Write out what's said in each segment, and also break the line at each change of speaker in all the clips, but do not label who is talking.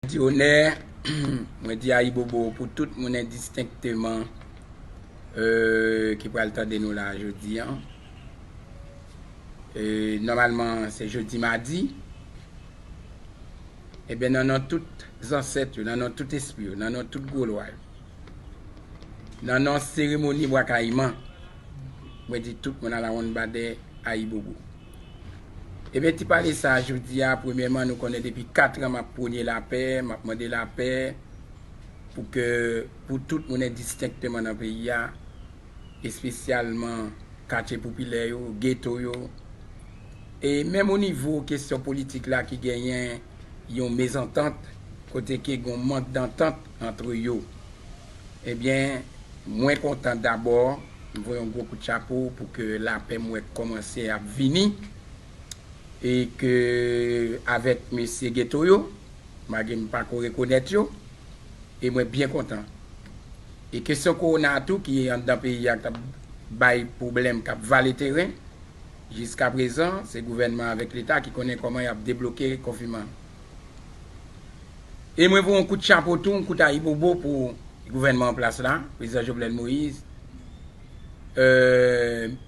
Di onè, mwen di ayibobo pou tout moun endistenkteman ki pral tande nou la jodi an. Nòmalman se jodi madi. Eben nan non tout zansèt yo, nan non tout espri yo, nan non tout gwo lwa yo, nan non seremoni Bwakayiman. Mwen di tout moun alawonnbadè ayibobo. Ebyen ti pale sa jodi a, premyèman nou konnen depi 4 an map pwone lapè, map mande lapè pou ke pou tout moun endistenkteman nan peyi a, espesyalman katye popilè yo, geto yo, e menm o nivo kesyon politik la ki genyen yon mezantant kote ke gon mank dantant antre yo. Ebyen mwen kontan dabò m voye yon gwo kout chapo pou ke lapè m wè k kòmanse ap vini e ke avèk mesye geto yo malgre m pako rekonèt yo e mwen byen kontan e kesyon kowona a tou ki anndan peyi a k tap bay pwoblèm k ap vale teren jiskaprezan se gouvènman avèk leta ki konnen kòman y ap debloke konfinman. E mwen voye yon kout chapo tou, yon kout ayibobo pou gouvènman an plas la, Prezidan Jovenel Moïse.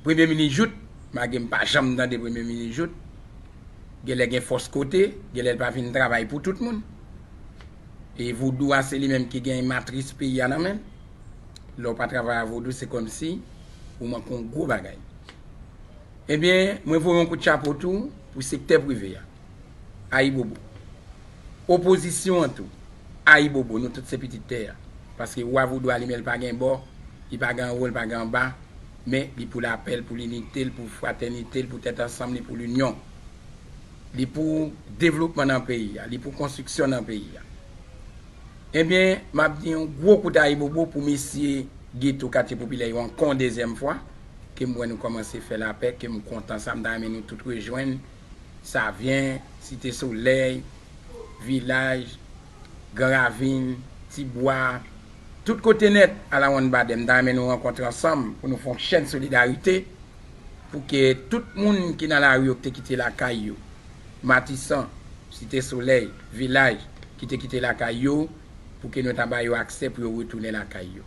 Premye minis Jouthe, malgre m pa janm tande Premye minis Jouthe, gen lè gen fòs kote, gen lè l pa fin travay pou tout moun. E vodou a se li menm ki gen matris peyi a nan men l. Lè w pa travay a vodou se kòmsi ou manke yon gwo bagay. Ebyen, mwen voye yon kout chapo tou pou sektè prive a. Ayibobo. Opozisyon an tou, ayibobo, nou tout se pitit tè a. Paske Wa Vodou a li menm li pa gen bò, li pa gen anwo, li pa gen anba, men li pou lapè, li pou linite, li pou fratènite, li pou tèt ansanm, li pou linyon. Li pou devlopman nan peyi a, li pou konstriksyon nan peyi a. Ebyen, m ap di yon gwo kout ayibobo pou mesye geto katye popilè yo ankò yon dezyèm fwa, ke m wè nou kòmanse fè lapè, ke m kontan sa, m ta renmen nou tout rejwenn. Savyen, Site Solèy, Vilaj, Gran Ravin, Ti Bwa, tout kote nèt alawonnbadè m ta renmen nou rankontre ansanm pou nou fè yon chèn solidarite pou ke tout moun ki nan lari yo ki te kite lakay yo, Matisan, Site Solèy, Vilaj, ki te kite lakay yo pou ke nou ta ba yo aksè pou yo retounen lakay yo.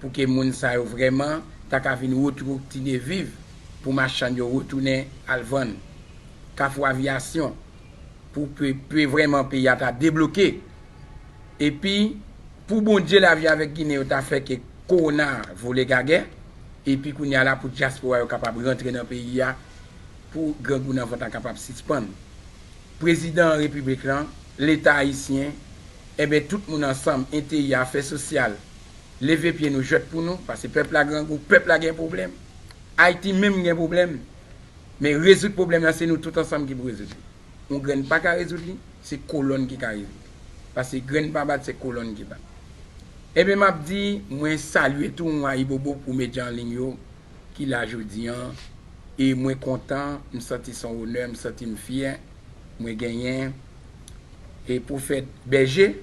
Pou ke moun sa yo vrèman ta ka vin retroktine viv pou machann yo retounen al vann. Kafou aviyasyon pou pe pe vrèman peyi a ta debloke. Epi pou Bondye lavi avèk ginen yo ta fè ke kowona a vole gagè. Epi kounye a la pou dyaspora yo kapab rantre nan peyi a pou grangou nan vant la kapab sispann. Prezidan repiblik lan, leta ayisyen, enben tout moun ansanm, enteyi, afè sosyal, Leve pye nou jwèt pou nou pase pèp la grangou, pèp la gen pwoblèm. Ayiti menm gen pwoblèm. Men rezoud pwoblèm la se nou tout ansanm ki pou rezoud li. Yon grenn pa ka rezoud li, se kolonn ki ka rezoud li. Pase grenn pa bat se kolonn ki bat. Enben map di mwen salye tou yon ayibobo pou medya an liy yo ki la jodi an e mwen kontan, m santi son onè, m santim fyè mwen genyen e Prophète Berger.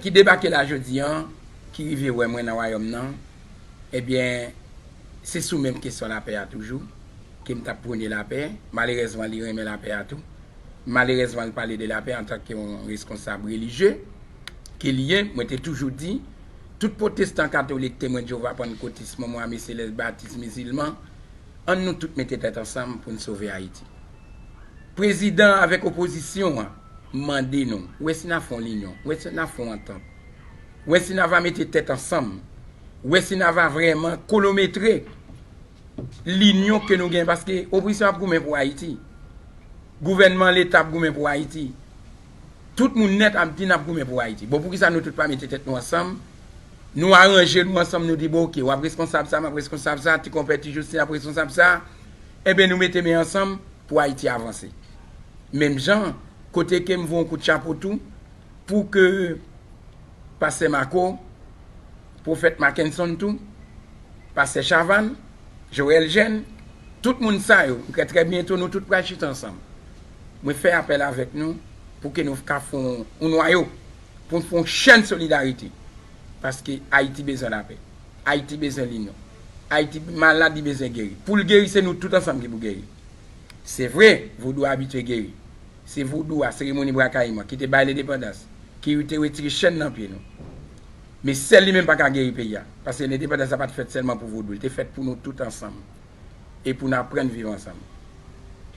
ki debake la jodi an, ki rive wè mwen nan Wayòm nan, ebyen, se sou menm kesyon lapè a toujou ke m t ap pwone lapè. Malerèzman, li renmen lapè a tou. Malerèzman, l pale de lapè antanke yon reskonsab relijye ke li ye. Mwen te toujou di, tout pwotestan, katolik, Temwen Jewova, pannkotis, Monmon, Ame Selès, Batis, Mizilman, ann nou tout mete tèt ansanm pou n sove Ayiti. Prezidan avèk opozisyon an. mande nou, wè si na fè yon linyon, wè si na fè yon antant, wè si na va mete tèt ansanm, wè si na va vrèman kolometre linyon ke nou gen, paske opozisyon ap goumen pou Ayiti, gouvènman leta ap goumen pou Ayiti, tout moun nèt ap di nap goumen pou Ayiti. Bon, poukisa nou tout pa mete tèt nou ansanm, nou aranje nou ansanm, nou di bon ok, wap reskonsab sa, map reskonsab sa, ti konpè, ti jostin ap reskonsab sa, enben nou mete men ansanm, pou Ayiti avanse. Menm jan an, kote ke m voye yon kout chapo tou pou ke Pastè Marco, Pwofèt Mackenson tou, Pastè Chavanne, Joel Jeune, tout moun sa yo, m kwè trè byento nou tout pral chita ansanm. Mwen fè apèl avèk nou pou ke nou ka fè yon nwayo, pou nou fè yon chèn solidarite, paske Ayiti bezwen lapè. Ayiti bezwen linyon. Ayiti malad li bezwen geri. Pou l geri se nou tout ansanm ki pou geri. Se vre, vodou a abitye geri. Se vodou a, seremoni Bwa Kayiman, ki te bay lendepandans, ki te retire chenn nan pye nou. Men sèl li menm pa ka geri peyi a. Paske lendepandans la pa t fèt sèlman pou vodou. Li te fèt pou nou tout ansanm. e pou n aprann viv ansanm.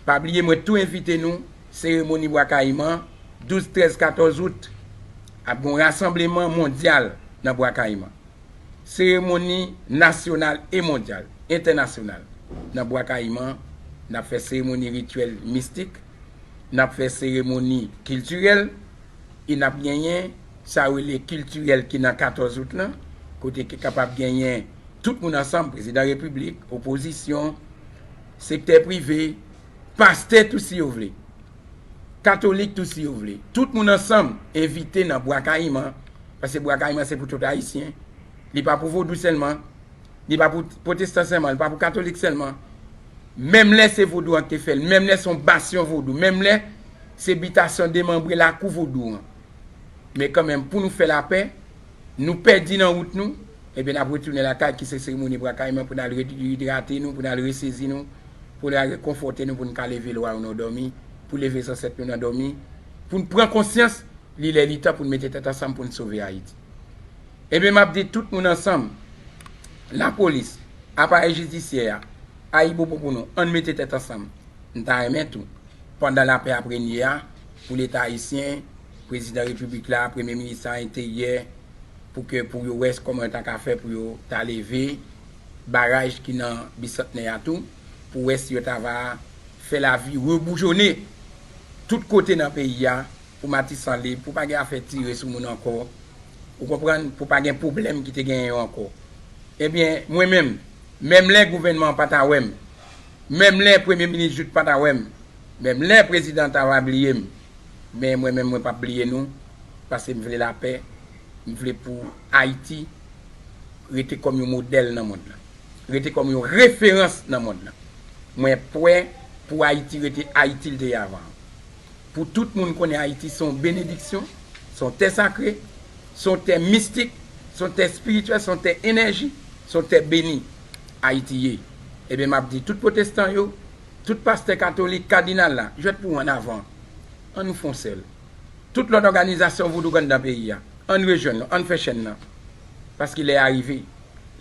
Pa bliye mwen tou envite nou seremoni Bwa Kayiman 12, 13, 14 out ap gen yon rasanbleman mondyal nan Bwa Kayiman. Seremoni nasyonal e mondyal, entènasyonal nan Bwa Kayiman n ap fè seremoni rityèl mistik, n ap fè seremoni kiltirèl e n ap genyen sa yo rele kiltirèl ki nan 14 out lan kote ki kapab genyen Tout moun ansanm, prezidan repiblik, opozisyon, sektè prive, pastè tou si yo vle, katolik tou si yo vle, tout moun ansanm envite nan Bwa Kayiman, paske Bwa Kayiman se pou tout Ayisyen, li pa pou vodou sèlman, li pa pou pwotestan sèlman, li pa pou katolik sèlman, menm lè se vodou an ki te fè l, menm lè se yon basyon vodou, menm lè se bitasyon demanbre lakou vodou an, men kanmenm pou nou fè lapè. Nou pèdi nan wout nou, ebyen n ap retounen lakay ki se seremoni bra kayiman pou n al reidrate nou, pou n al resezi nou, pou n al rekonfòte nou pou n ka leve lwa yo nan dòmi, pou leve zansèt nou nan dòmi, pou n pran konsyans li lè li tan pou n mete tèt ansanm pou n sove Ayiti. Ebyen m ap di tout moun ansanm, lapolis, aparèy jidisyè a, ayibobo pou nou, ann mete tèt ansanm. M ta renmen tou, pandan lapè ap renye a, pou Leta ayisyen, Prezidan Repiblik la, Premye Minis la, Enteryè, pou ke pou yo wè kòman yo ta ka fè pou yo ta leve baraj ki nan Bisantnè a tou, pou wè si yo ta va fè lavi reboujone tout kote nan peyi a, pou Matisan lib, pou pa gen afè tire sou moun ankò, ou konprann, pou pa gen pwoblèm ki te genyen yo ankò. Ebyen, mwen menm, menm lè gouvènman an pa ta wè m, menm lè Premye Minis Jouthe pa ta wè m, Menm lè prezidan Tara bliye m, men mwen menm mwen pap bliye nou, pase m vle lapè, m vle pou Ayiti rete kòm yon modèl nan mond lan, rete kòm yon referans nan mond lan. Mwen pwè pou Ayiti rete Ayiti l te ye avan an. Pou tout moun konnen Ayiti se yon benediksyon, se yon tè sakre, se yon tè mistik, se yon tè espirityèl, se yon tè enèji, se yon tè beni Ayiti ye. Ebyen m ap di tout pwotestan yo. Tout pastè katolik, kadinal la, jwèt pou ou an avan. An nou fè yon sèl. Tout lòt òganizasyon vodouk anndan peyi a, an n rejwenn nou, an n fè chenn nan. Paske lè a rive.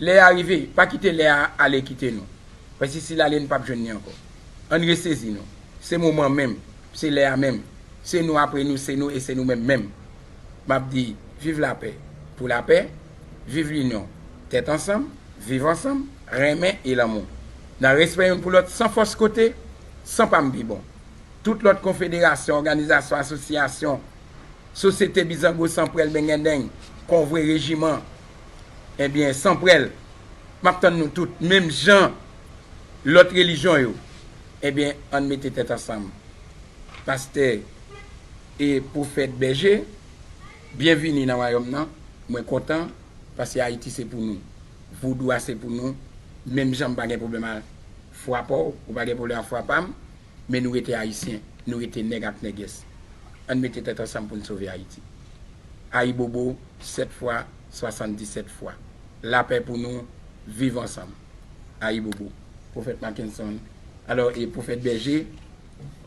Lè a rive. Pa kite lè a ale kite nou. Paske si l ale nou pap jwenn li ankò. An n resezi nou. Se moman an menm. Se lè a menm. Se nou apre nou, se nou e se nou menm menm. M ap di, viv lapè. Pou lapè. Viv linyon, tèt ansanm, viv ansanm, renmen e lanmou. Nan respè youn pou lòt san fòs kote, san pa m pi bon. Tout lòt konfederasyon, òganizasyon, asosyasyon, sosyete bizango san prèl bengendeng, konvwe, rejiman, enbyen, san prèl, m ap tann nou tout, menm jan lòt relijyon yo, enbyen, ann mete tèt ansanm. Pastè e pwofèt Bèje. Byen vini nan wayòm nan, mwen kontan paske Ayiti se pou nou. Vodou a se pou nou, menm jan m pa gen pwoblèm a fwa pa w, ou pa gen pwoblèm a fwa pa m, men nou rete Ayisyen, nou rete nèg ak nègès. Ann mete tèt ansanm pou n sove Ayiti. Ayibobo 7 fwa 77 fwa. Lapè pou nou, viv ansanm. Ayibobo. Pwofèt Mackenson, alò e pwofèt Bèje?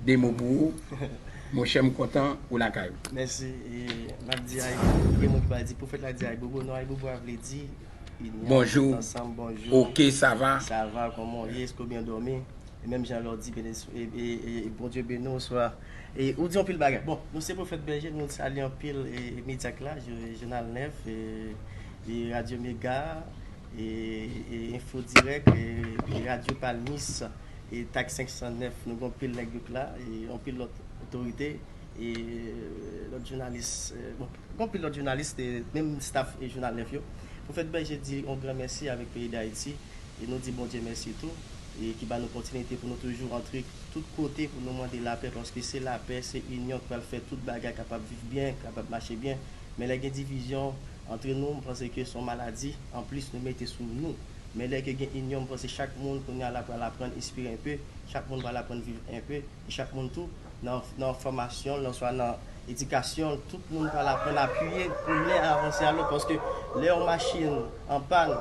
2 mo pou ou monchè m kontan ou lakay ou. Mèsi e
nap di ayibobo gen moun ki pral di pwofèt la di ayibobo non ayibobo a vle di ini a tèt
ansanm bonjou
ok sava
sava kòman w ye
èske w byen dòmi e menm jan lè w di e bondye beni w oswa e ou di yon pil bagay bon nou se pwofèt bèje nou salye anpil e medya ki la jounal 9 e radyo mega e e enfo dirèk e radyo palmis. E tak 509 nou gen yon pil nèg yout la e yon pil lòt otorite e lòt jounalis bon gen yon pil lòt jounalis e menm staf jounal 9 yo. Pwofèt Bèje di yon gran mèsi avèk peyi Dayiti e nou di Bondye mèsi tou e ki ba nou pòtinite pou nou toujou antre tout kote pou nou mande lapè paske se lapè, se inyon ki pral fè tout bagay kapab viv byen, kapab mache byen men lè gen divizyon antre nou m panse ke se yon maladi anplis nou mete sou nou. Men lè ke gen inyon m panse chak moun kounya la pral aprann espire enpe, chak moun pral aprann viv enpe, e chak moun tou nan nan fòmasyon l oswa nan edikasyon l tout moun pral aprann apiye pou nen a avanse a lòt paske lè yon machin an pàn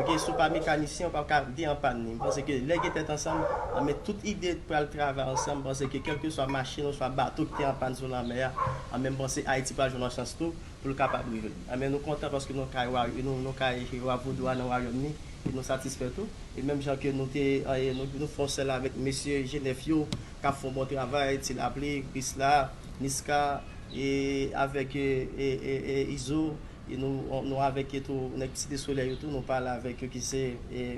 ok si w pa mekanisyen ou pap ka di an pàn ni m panse ke lè gen tèt ansanm anben tout ide pral travay ansanm m panse ke kèlkeswa machin oswa bato ki te an pàn sou lanmè a anben m panse Ayiti pral jwenn yon chans tou pou l kapab rive. Amen nou kontan paske nou kay wa nou kay wa vodou a nan wayòm ni e nou satisfè tou e menm jan ke nou te nou fon sèl avèk mesye jenèf yo kap fon bon travay ti lapli krisla niska e avèk izo e nou avèk e tou nèg site solèy yo tou nou pale avèk yo ki se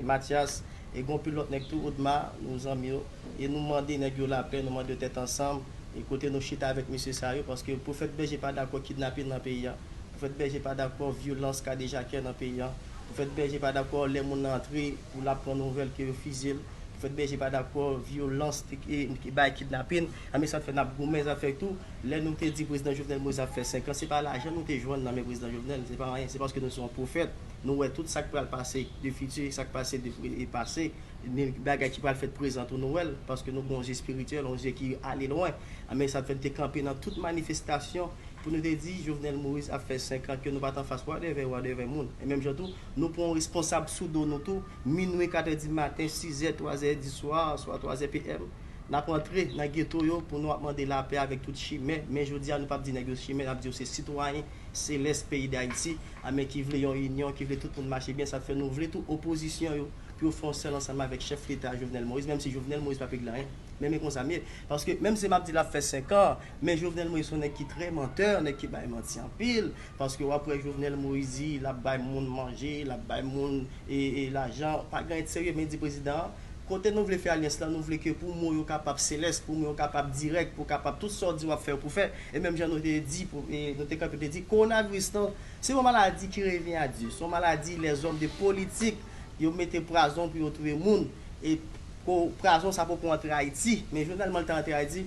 matyas e gon pil lòt nèg tou odma nou zanmi yo. E nou mande nèg yo lapè, nou mande yo tèt ansanm, e kote nou chita avèk mesye sa yo, paske Pwofèt Bèje pa dakò kidnapin nan peyi a, Pwofèt Bèje pa dakò vyolans kadejakè nan peyi a, Pwofèt Bèje pa dakò lè moun nan antre pou l ap pran nouvèl ke yo fizye l, Pwofèt Bèje pa dakò vyolans ki bay kidnapin, a men sa fè n ap goumen zafè tou, lè nou te di Prezidan Jovenel Moïse ap fè 5 an, se pa lajan nou te jwenn nan men Prezidan Jovenel, se pa anyen, se paske nou se yon pwofèt, nou wè tout sa k pral pase de fiti, sa k pase de pase, ni bagay ki pral fèt prezan tou Nowèl, paske nou gen yon je spirityèl, yon je ki ale lwen. Anben sa t fè n te kanpe nan tout manifestasyon pou nou te di Jovenel Moïse ap fè 5 an ke nou pa t anfas wadèvè wadèvè moun. E menm jan tou, nou pran yon responsab sou do nou tou, minwi, katè di maten, sizè, twazè di swa, swa twazè PM, n ap antre nan geto yo pou nou ap mande lapè avèk tout chimè. Men jodi a nou pa p di nèg yo chimè, n ap di yo se sitwayen selès peyi Dayiti, anben ki vle yon inyon, ki vle tout moun mache byen, sa t fè nou vle tou opozisyon yo, pou yo fè yon sèl ansanm avèk chèf leta Jovenel Moïse menm si Jovenel Moïse pa p egle anyen men men konsa m ye paske menm si m ap di l ap fè 5 an men Jovenel Moïse s on nèg ki trè mantè nèg ki bay manti anpil paske w ap wè Jovenel Moïse di l ap bay moun manje l ap bay moun e e lajan pa gen anyen t serye men di prezidan an kote nou vle fè alyans la nou vle ke pou mo yo kapab selès pou mo yo kapab dirèk pou kapab tout sa w di w ap fè w pou fè e menm jan nou te di pou e nou te kanpe te di kowonaviris lan se yon maladi ki revyen a Dye s on maladi lèzòm de politik yo mete prazon pou yo touye moun e pou prazon sa poko antre ayiti men jovenel man l ta antre ayiti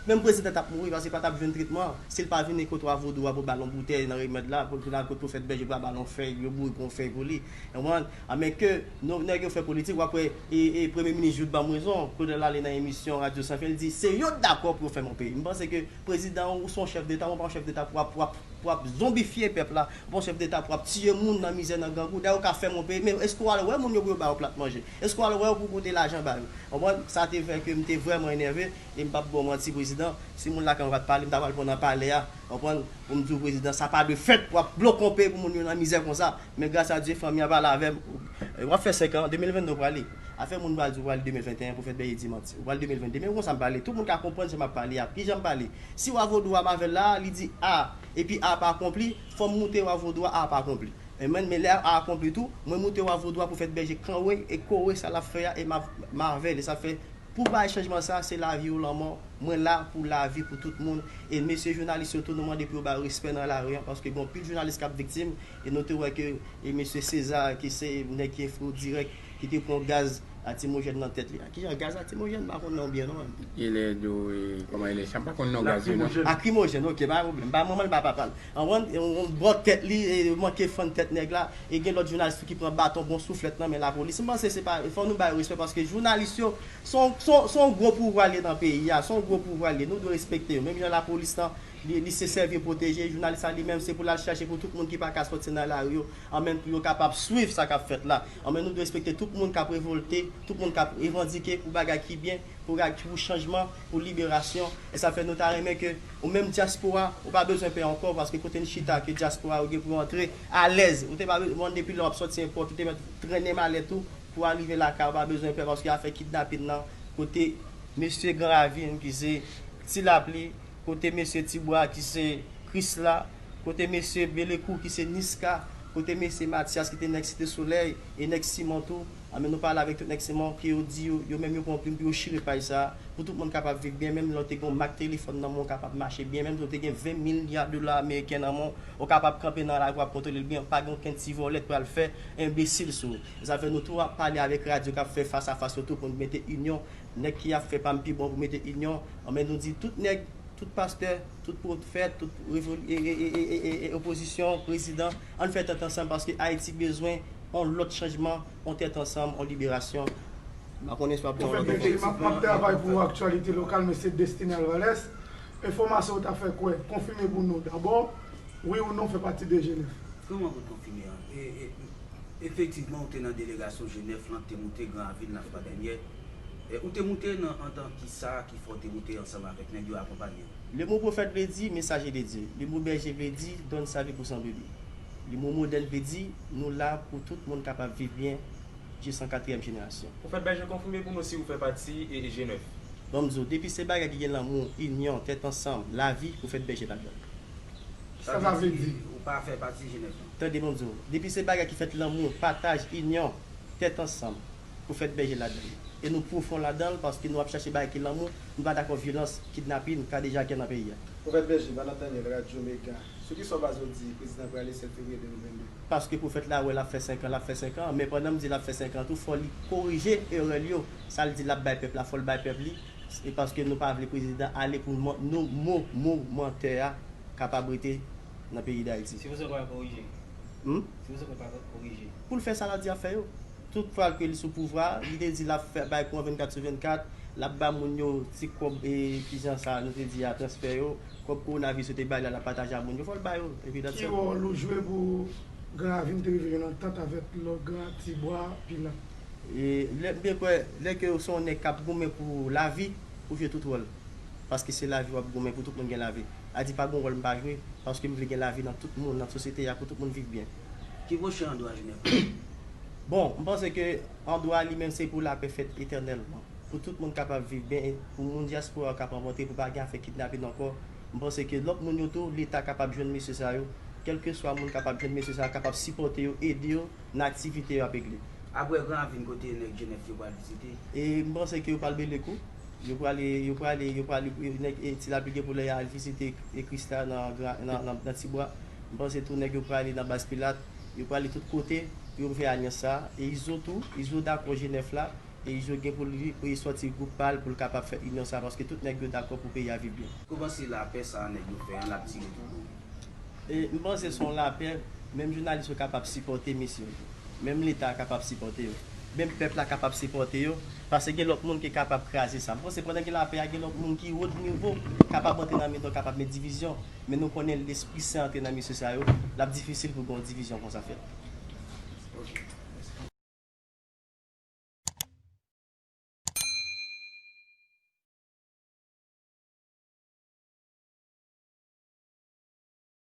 menm prezidan tap mouri paske pa tap jwenn tretman si l pa vin e kot wa vodou a pou bal yon boutèy nan remèd la pou l vin al kot pwofèt bèje pou yo bal yon fèy yo boure pou yon fèy pou li ou konprann a men ke nou nèg yo fè politik wap wè e e premye minis jout banm rezon kote l ale nan emisyon radyo san fen l di se yo dakò pou yo fèm yon peyi m panse ke prezidan ou son chèf deta ou pa yon chèf deta pou wap pou wap pou wap zonbifye pèp la Bon chef deta pou ap tiye moun nan mizè nan grangou dèyè ou ka fè moun peye men eske ou al wè moun yo pou yo ba yo plat manje eske ou al wè yo pou ou pote lajan ba yo konprann sa te fè ke m te vrèman enève e m pap ba w manti prezidan si moun lakay mwen pat pale m ta pral pran nan palè a konprann pou m di w prezidan sa pa dwe fèt pou ap blokon peyi pou moun yo nan mizè konsa men gras a Dye fanmi an pale avè m ou ap fè 5 an 2022 ou prale afè moun pral di ou prale 2021 pou fè bèy e dimanti ou pral 2022 men ou konn sa m pale tout moun ka konprann sa m ap pale a kijan m pale si wa vodou a m avè l la a li di a. Epi a ap akonpli, fò m moute wa vodou a ap akonpli. Amen, men lè a akonpli tou, mwen moute wa vodou a pou fèt bèje kanwe e kore sa l ap fè a e m ap mavèle sa fè pou bay chanjman sa se lavi ou lanmò mwen la pou lavi pou tout moun e mesye jounalis yo tou nou mande pou yo bay respè nan lari an paske gen anpil jounalis k ap viktim e nou te wè ke e mesye César ki se nèg ki enfri w dirèk Ki te pran gaz latimojèn nan tèt li a. Ki jan gaz latimojèn? M pa konn non byen non. E lè do
e kòman e lè chan? M pa konn non gaz yo non. Lakrimojèn. Ok, pa
gen pwoblèm. M pa manman li pa papa li. Anvan yon bò tèt li e yo manke fann tèt nèg la. E gen lòt jounalis tou ki pran baton bon souflèt nan men lapolis. M panse se pa e fò nou ba yo respè paske jounalis yo s on s on s on gwo pouvwa l ye nan peyi a. S on gwo pouvwa l ye. Nou dwe respekte yo. Menm jan lapolis lan li se sèvi yo pwoteje, jounalis la li menm se pou l al chache pou tout moun ki pa ka sòti nan lari yo Anmèn pou yo kapab swiv sa k ap fèt la. Anmèn nou dwe respekte tout moun k ap revolte, tout moun k ap revandike pou bagay ki byen, pou rag, pou chanjman, pou liberasyon. E sa fè nou ta renmen ke ou menm dyaspora, ou pa bezwen pè ankò paske kote n chita ke dyaspora yo gen pou yo antre alèz. Ou te pa be, bon depi lè w ap sòti enpòt ou te mèt trennen malèt ou pou arive lakay ou pa bezwen pè paske afè kidnapin nan kote. Mesye gran ravin ki se ti lapli. Kote mesye Tibwa ki se Krisla, kote mesye Belekou ki se Niska, kote mesye Matyas ki te nèg Site Solèy e nèg Simon tou? Anben nou pale avèk tout nèg Simon ke yo di yo, yo menm yo pran yon plim pou yo chire paj sa a, pou tout moun kapab viv byen, menm lè w te gen yon mak telefòn nan men w ou kapab mache byen, menm lè w te gen 20 milya dola ameriken nan men w, ou kapab kanpe nan lari w ap kontwole l byen, pa gen okenn ti vòlè k pral fè enbesil sou ou. Zafè nou tou ap pale avèk radyo k ap fè fas a fas yo tou pou n mete inyon Nèg ki ap fè pam pi bon pou mete inyon an men nou di tout nèg, tout pastè, tout pwofèt, tout opozisyon, prezidan ann fè tèt ansanm paske Ayiti bezwen on lòt chanjman, on tèt ansanm, on liberasyon. M pa
konnen si w ap gen yon
lòt
repons. Pwofèt BT, m ap
travay pou
aktyalite lokal
mwen
se Destiny Alvarez. Enfòmasyon ou ta fè kwè, konfime pou nou dabò, wi ou non fè pati de Jenèf? Kòman pou konfime
an? Efektivman ou te nan delegasyon Jenèf lan k te moute gran avil Nafta dènyè. Ou te moute nan antan ki sa ki fè w te moute ansanm avèk nèg yo akonpanye w? Lemo pwofèt vle
di mesaje de Dye. Lemo bèje vle di donn sa vi pou san brebis. Lemo modèl vle di nou la pou tout moun kapab viv byen jis an katriyèm jenerasyon. Pwofèt Bèje konfime
pou nou si ou fè pati G9. Bon m di w, depi
se bagay ki gen lanmou, inyon, tèt ansanm, lavi, pwofèt Bèje ladan l. Sa
sa vle di ou pa fè pati G9
lan? Tande bon m di w, depi
se bagay ki fèt lanmou, pataj, inyon, tèt ansanm. pou fèt bèje ladan li e nou pwofon ladan l paske nou ap chache bagay ki lanmou, nou pa dakò vyolans, kidnapin, kadejakè nan peyi a. Pwofèt Bèje, Banan Daniel,
Radyo Mega, Sou ki sa w baze w di Prezidan prale 7 fevriye 2022? Paske pwofèt la
wè l ap fè senkan, l ap fè senkan, men pandan m di l ap fè senkan tou fò li korije erè l yo, sa l di l ap bay pèp la fò l bay pèp li e paske nou pa vle prezidan ale pou nou mo mo mantè a kapab rete nan peyi Dayiti. Si pwofesè pa korije?
Hum? Si pwofesè pa korije? Pou l fè sa l ap di l ap fè
yo. tout fwa ke li sou pouvwa, li te di lap fè bay kò 24 sou 24, lap ba moun yo ti kòb e kijan sa nou te di a transfè yo, kòb kowonavis yo te bay la lap pataje a moun yo, fòl ba yo. Epi dat Ki sèl. wòl ou jwe pou
gran ravin te rive yon antant avèk lò gran ti bwa pilan? E lè m
te kwè, lè ke ou se yon nèg kap goumen pou lavi, ou jwe tout wòl. Paske se lavi wap goumen pou tout moun gen lavi. Adi pa gon wòl m pa jwe, paske m vle gen lavi nan tout moun, nan sosyete a pou tout moun viv byen. Ki pwoche andwa
jounen konsa? Bon, m
panse ke andwa li menm se pou lapè fèt etènèlman, pou tout moun kapab viv byen, pou moun dyaspora kap anvantre, pou pa gen afè kidnapin ankò, m panse ke lòt moun yo tou leta kapab jwenn mesye sa yo, kèlke swa moun kapab jwenn mesye sa yo kapab sipòte yo, ede yo nan aktivite yo ap egle. Aprè gran ravin
kote nèg jenès yo pral vizite? E m panse ke yo
pral mele kou, yo prale, yo prale, yo prale, nèg ti lapli gen pou lè ya al vizite kris la nan gran, nan ti bwa. M panse tou nèg yo prale nan baz pilat, yo prale tout kote pou yo m fè alyans sa, e izo tou, izo dakò je 9 la, e izo gen pou li e sòti gwoup pal pou l kapab fè inyon sa paske tout nèg yo dakò pou peyi a viv byen. Kouman se lapè sa
nèg yo fè an lap tire tout moun. E m panse son
lapè menm jounalis yo kapab sipòte misye yo tou, menm leta a kapab sipòte yo, menm pèp la kapab sipòte yo pase gen lòt moun ki kapab kraze sa. M panse pandan gen lapè a gen lòt moun ki wot nivo kapab antre nan mitan kapab met divizyon. men nou konnen lespri sen antre nan mesye sa yo, l ap difisil pou gen yon divizyon konsa fèt.